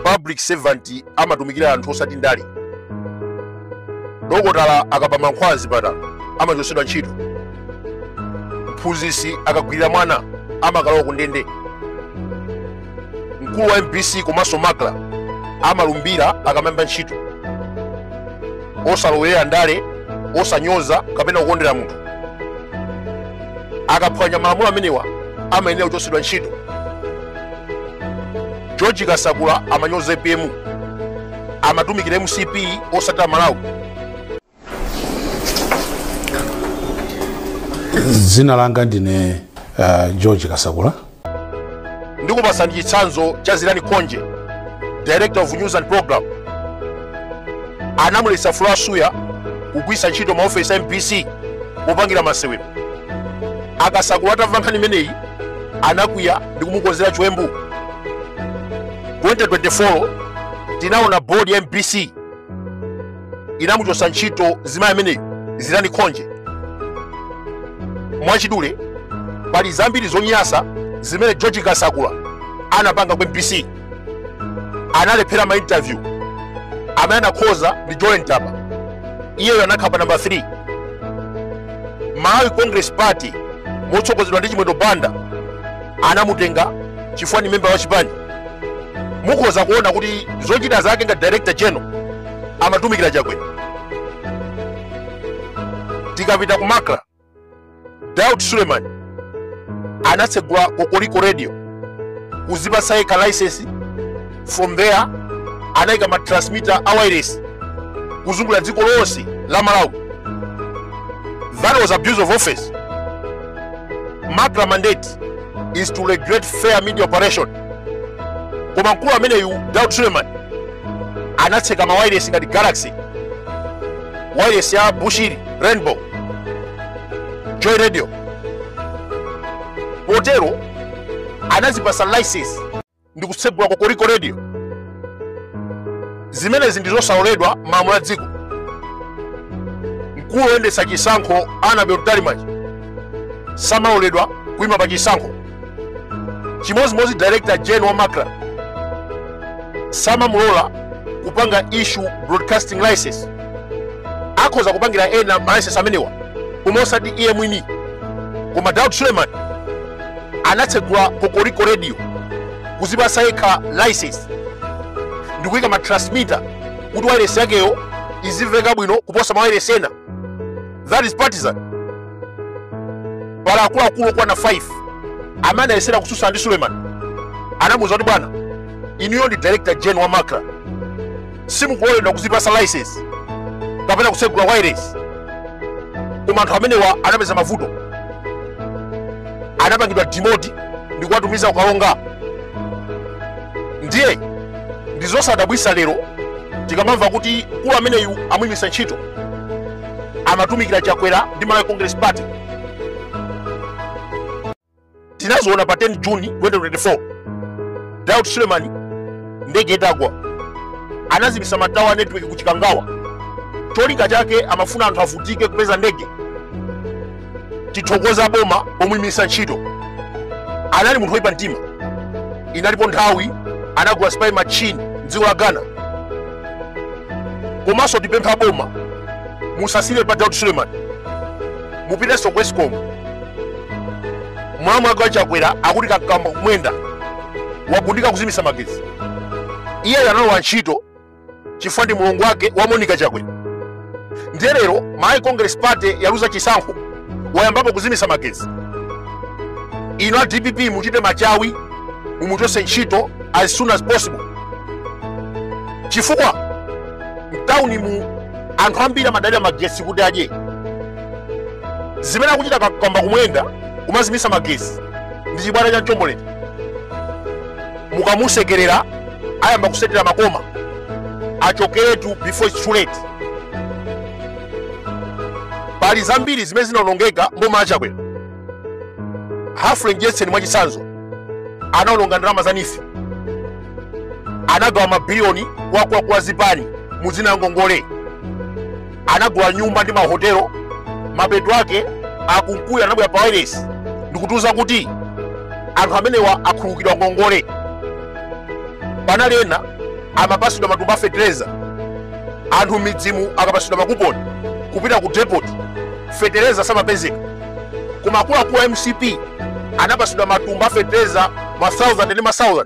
public servant amatumikira anthu osati ndale dokotala akaba mankhwala azipatala amachotsedwa ntchito mphunzitsi akagwirira mwana amakalowa ku ndende mkulu wa mbc komanso macra amalumbira akamayamba ntchito osalowerera ndale osanyoza kapena kukondera munthu akaphwanya malamulo amenewa amayenera kuchotsedwa ntchito george kasakula amanyoza apm amatumikira mcp osati amalawi dzina langa ndine uh, george kasakula ndikupasani chitsanzo cha zilani khonje director of news and program anamuletsa flora suya kugwiritsa ntchito maofesi a mbc popangira masewero a kasakula atamva nkhani imeneyi anakwiya ndi kumukonzera chiwembu 2024 tinaona board ya mbc inamuchotsa ntchito mzimayi ameneyo zilani khonje mwachidule pali zambiri zonyasa zimene george kasakula anapanga ku mbc analephera ma interview amene anakhoza ndi jolly ntaba iyeyo anakhala pa namba 3 malawi congress party motsogozedwa ndi chimwendo banda anamutenga chifukwa ni memba wa chipani mukhoza kuona kuti zochita zake ngati director general amatumikira chakwera tikapita ku macra daud suleman anatsegula kokoliko radio kuzipasa yekha license from there anayika ma transmitter a wairesi kuzungulira dziko lonse la malawi that was abuse of office macra mandate is to regulate fair media operation koma mkulu ameneyu Daud Suleman anatseka mawairesi ngati Galaxy wairesi ya Bushiri Rainbow Joy Radio potero anazipasa license ndi kutsegula kokoliko radio zimenezi ndi zosaloledwa malamulo a dziko mkulu woyendetsa chisankho Annabel Mtalimanja samaloledwa kuima pa chisankho chimodzimodzi director general wa macra samamulola kupanga issue broadcasting license akhoza kupangira ena malicense amenewa koma osati iye mwini koma daud suleman anatsegula kokoliko radio kuzipasa yekha license ndikuyika ma transmitter kuti wairesi yakeyo izimveka bwino kuposa mawairesi ena that is partisan pali akuluakulu okwana 5 amene anayesera kutsutsa ndi suleiman anamuuza kuti bwana inuyo ndi director gen wa macra simukuloledwa kuzipasa license kapena kutsegula wailesi koma anthu amenewa anapeza mavuto anapangidwa demote ndi kuwatumiza ku Karonga ndiye ndizosadabwisa lero tikamamva kuti mkulu ameneyu amuyimitsa ntchito amatumikira chakwera ndi malawi congress party tinaziona pa 10 juni 2024 daud sulemani ndege itagwa anazimitsa matawa a network ku chikangawa cholinga chake amafuna anthu avutike kupeza ndege tithokoza boma pomuyimisa ntchito anali munthu woyipa mtima inalipo nthawi anagula spy machine mdziko la ghana komanso tipempha boma musasire pa daud suleiman mupitenso ku escom mulamu wake wachakwera akuti kamkwamba kumwenda wagundika kuzimisa magetsi iyeyo analowa ntchito chifukwa ndi mulongo wake wa monica chakwera ndiye lero malawi congress party yaluza chisankho wayambapo kuzimitsa magezi inu a dpp muchite machawi mumuchose ntchito as soon as possible chifukwa mtauni mu anthu ambiri amadalira magesi kuti adye zimene akuchita kamkwamba kumwenda kumazimitsa magesi ndi chibwana cha mchombolende mukamusekerera ayamba kusetera makoma achokeretu before it's too late pali zambiri zimene zinaonongeka mboma la chakwera humphrey mdyetseni mwachitsanzo anaononga ndalama za neef anagawa mabiliyoni kwa kwa kwa zipani muzina ngongole anagula nyumba ndi mahotelo mapeto ake akunkuyu anabwera pa wailesi ndikutiuza kuti anthu amenewa akhululukidwa ngongole panali ena amapasidwa matumba a fetereza anthu mmidzimu akapasidwa makuponi kupita ku depot fetereza samapezeka koma akuluakulu a mcp anapasidwa matumba a fetereza ma 1000 ndi ma 1000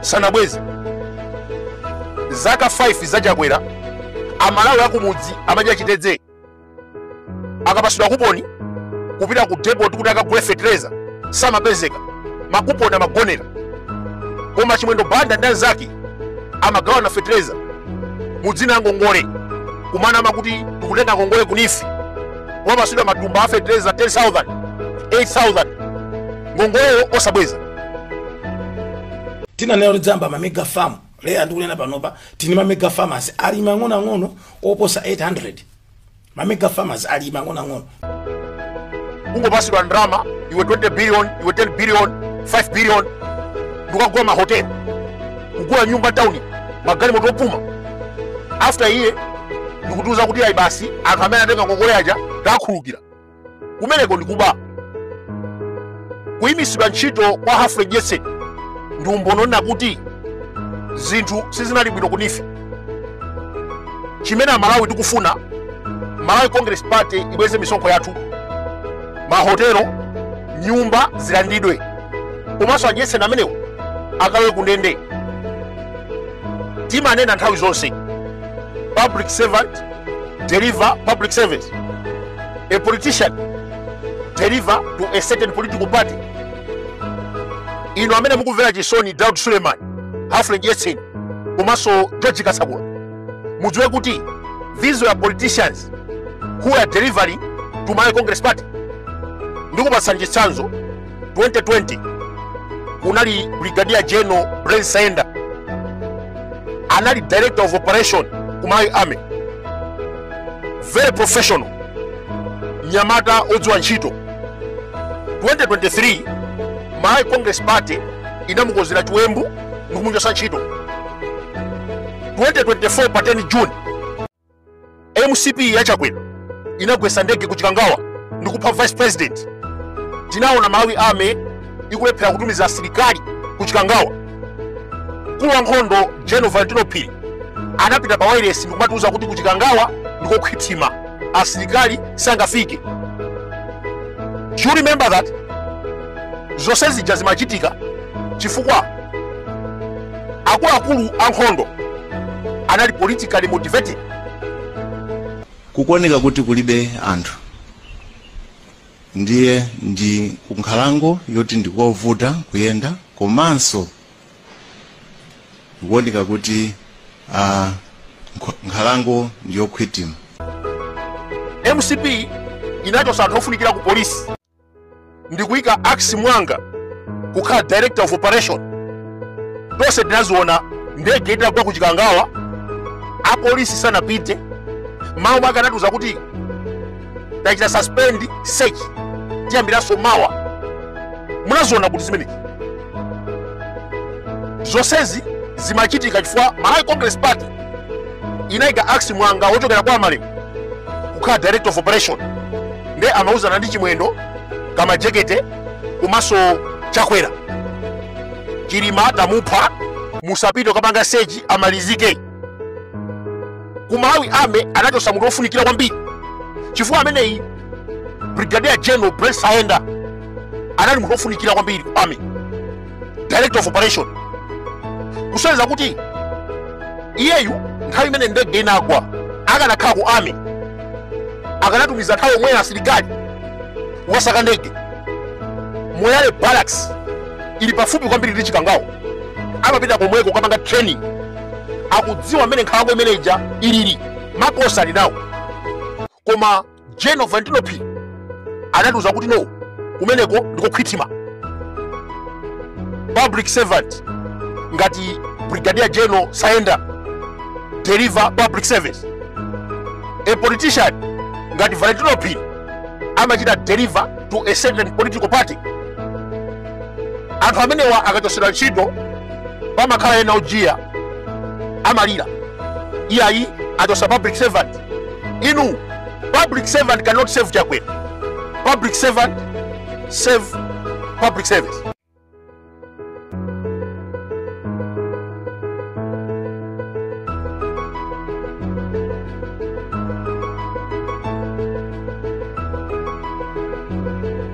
sanabweze zaka 5 za chakwera amalawi akumudzi amadya chitedze akapasidwa kuponi kupita ku depot kuti akagule fetereza samapezeka makuponi amagonera koma chimwendo banda ndi anzake amagawana fetereza mudzina la ngongole kumana amakuti tikutenga ngongole ku neef wapasidwa matumba a fetereza 10000 8000 ngongoleyo osabweza tinanena kuti tidzayamba mamega farm lero ndikunena panopa tili ndi mamega farmers alimi ang'onoang'ono oposa 800 mamega farmers alimi ang'onoang'ono kungopatsidwa ndalama iwe 20 billion iwe 10 billion 5 billion ndikukagula mahoteli kugula nyumba m'tauni magalimoto opuma after iye ndikutiuza kuti ayi basi anthu amene anatenga ngongole aja takhululukira kumeneko ndikuba kuyimitsidwa ntchito kwa humphrey mdyetseni ndi umboni onena kuti zinthu sizinali bwino ku neef chimene amalawi tikufuna malawi congress party ibweze misonkho yathu mahotelo nyumba zilandidwe komanso a mdyetseni amenewo akalowe kundende timanena nthawi zonse public servant deliver public service. A politician deliver to a certain political party. Inu amene mukumvera chisoni Daud Suleiman, Humphrey Mdyetseni, komanso George Kasakula, mudziwe kuti these were politicians who are delivering to Malawi Congress party. Ndikupatsani chitsanzo 2020 kunali brigadier general Brent Saenda anali director of operation ku Malawi army very professional mnyamata odziwa ntchito 2023 Malawi Congress Party inamukonzera chiwembu ndikumuchotsa ntchito 2024 pa 10 June mcp ya chakwera inagwesa ndege ku chikangawa ndi kupha vice president tinaona malawi army ikulephera kutumiza asilikali ku chikangawa mkulu wa nkhondo general valentino phiri anapita pa wailesi ndikumatiuza kuti ku chikangawa ndikokhwithima asilikali sangafike you remember that zonse zija zimachitika chifukwa akuluakulu ankhondo anali politically motivated kukuoneka kuti kulibe anthu ndiye ndi kunkhalango yoti ndikovuta kuyenda komanso kukuoneka kuti ah, nkho- nkhalango ndiyokhwitima mcp inachotsa anthu ofunikira ku polisi ndikuyika akis muwanga kukhala director of operation tonse tinaziona ndege itagwa ku chikangawa apolisi sanapite m'mawu mwake anatiuza kuti tachita suspend search tiyambiranso mawa munaziona kuti zimenezi zonsezi zimachitika chifukwa malawi congress party inayika akis muwanga wochokera kwa malema kukhala director of operation nde amauzana ndi chimwendo kamajekete komanso chakwera chilima tamupha musapite kapanga seji amalizike ku Malawi army anachosa munthu wofunikira kwambiri chifukwa ameneyi brigadier general Brent Saenda anali munthu wofunikira kwambiri ku army director of operation kusonyeza kuti iyeyu nthawi imene ndege inagwa akanakhala ku army akanatumiza nthawi yomweyo asilikali wasaka ndege moyale barracks ili pafupi kwambiri ndi chikangawa amapita komweko kukapanga training akudziwa mmene nkhalango imene ija ilili makosa ali nawo koma general Valentino Phiri anatiuza kuti no kumeneko ndi kokhwithima public servant ngati brigadier general Saenda deliver public service a politician ngati Valentino Phiri amachita deliver to a certain political party anthu amenewa akachosedwa ntchito pamakhala ena ojiya amalira iyayi achosa public servant inu public servant cannot save chakwera public servant save public service